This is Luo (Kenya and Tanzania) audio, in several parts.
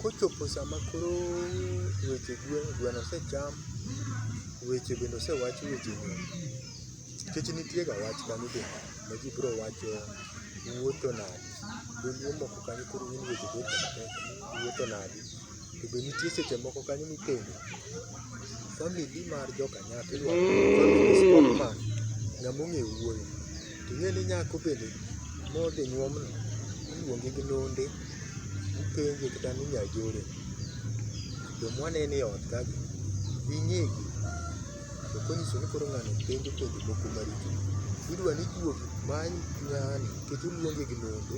Kochopo sama koro weche gwen, gweno osecham, weche bende osewach weche go. Nikech nitie ga wach kanyo be ma ji biro wacho ni wuotho nade. Dholuo moko kanyo koro gin weche go eko matek ni wuotho nade. To be nitie seche moko kanyo mipenjo family mar joka nyatwa, family sportman, ng'ama ong'e wuoyo. To ing'e ni nyako bende modhi nyuomno iluonge gi londe, ipenje kata ni nyajore. Joma waneno e ot kagi be ing'egi. To konyiso ni koro ng'ani penjo penjo moko maricho, idwa ni juogi many ng'ani nikech oluonge gi londe,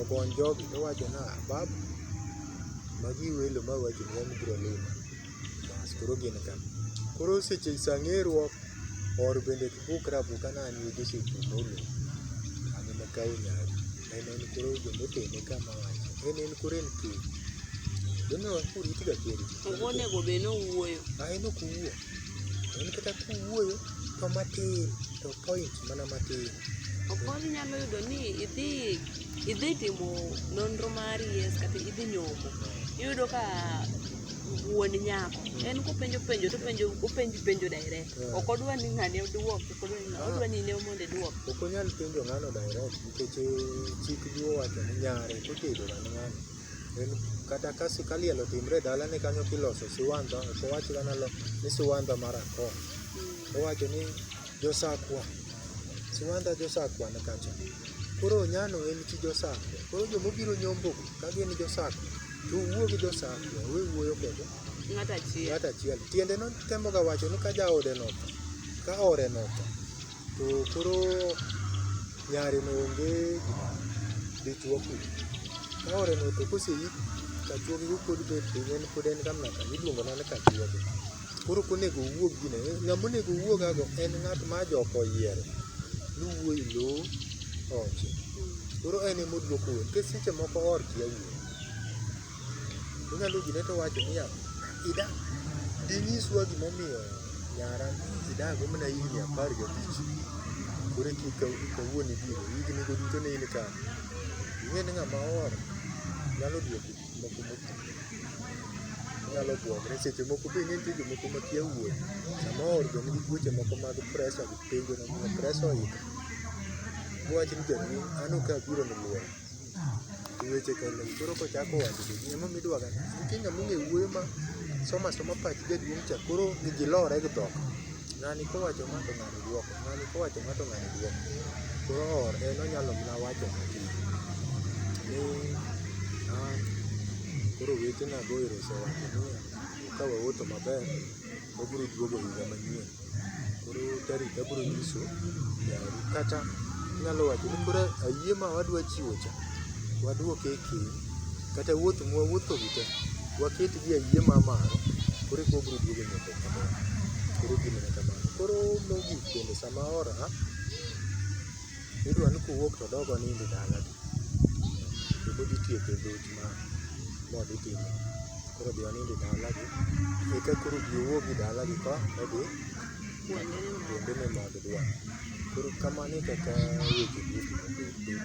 ogony jogi towacho ni ah, babu magi welo ma wawachonu wabiro limo. Bas koro gin ka. Koro seche sa ng'eruok, or bende kibukra abuka ni an wede osepimo olemo. An ema akawo nyari. En en koro joma otene ka ma wacho. En en koro en ker. Joma orit ga ker. To bonego bed ni owuoyo. A en ok owuo. En kata kuwuoyo to matin to point mana matin. Okoth inyalo yudo ni idhi idhi timo nonro mari yes kata idhi nyombo. Iyudo ka wuon nyako en kopenjo penjo to penjo openj penjo direct yeah. ok odwa ni ng'ane oduok ok odwa ni ng'ane odwa ni ne mondo duok ok onyal penjo ng'ano direct nikech eh, chik gi owacho ni nyare kotedo ga ng'ano en kata ka sikaliel otimre dala ne kanyo kiloso siwandha ok owach ga nalo ni siwandha mar akon mm. owacho ni Josakwa, Siwandha Josakwa ni kacha. Koro Onyano en chi Josakwa. Koro joma obiro nyombo go, ka gin Josakwa, to uwuo gi Josakwa, we wuoyo kod Ng'ato achiel. ng'at achiel. Tiende no temoga wacho ni ka jaode notho, ka ore notho, to koro nyare no onge gima dichwo kuno. Ka ore notho koseyik, kachuogi pod bet piny, en pod en kamna kanyo, iluongo mana ni kachuogi. Koro ok onego owuog gine. Ng'ama onego owuogago en ng'at ma joka oyiero ni wuoi lowo oche. Koro en ema oduoko wuon. Nikech seche moko oor kia wuon. Onyalo gine to owacho niya, ida dinyiswa gima omiyo nyara idago mana higni apar gabich. Koro eki eka wuon ibiro. Higni go duto ne in kanye? Ing'e ni ng'ama oor nyalo duoko moko mokue. Inyalo buogri, seche moko be nitie jomoko makia wuoth. Samoro be nigi tuoche moko mag presha gi penjo momiyo presha oidho. Mowach ni jaduong' an ok abiro ni lueny. To weche ka lem koro kochako wacho to ji emomiyo idwaga ni nitie ng'ama ong'e wuoyo ma somo asoma pach jaduong' cha koro ji lore gi dhok. Ng'ani kowacho ma to ng'ani dwoko. Ng'ani kowacho ma to ng'ani dwoko. Koro or en onyalo mana wacho matin ni ah, koro wetena go ero osewacho niya, ka waoto maber, wabiro duogo higa manyien. Koro tarik abiro nyiso yaru. Kata inyalo wacho ni koro ayie ma wadwa chiwo cha, waduoke e keny. Kata wuoth mwawuotho gi te, waketgi e ayie ma malo, koro eka wabiro duogo nyaka koro gimene kamano koro mogik bende sama ora idwa ni kowuok to dogo nindi dala to pod itieko dhoch ma modhi timo koro dhi onindi dalagi eka koro bi owuogi dalagi ka odhi kuonde ni mag dwa koro kamano e kaka weche duto mobet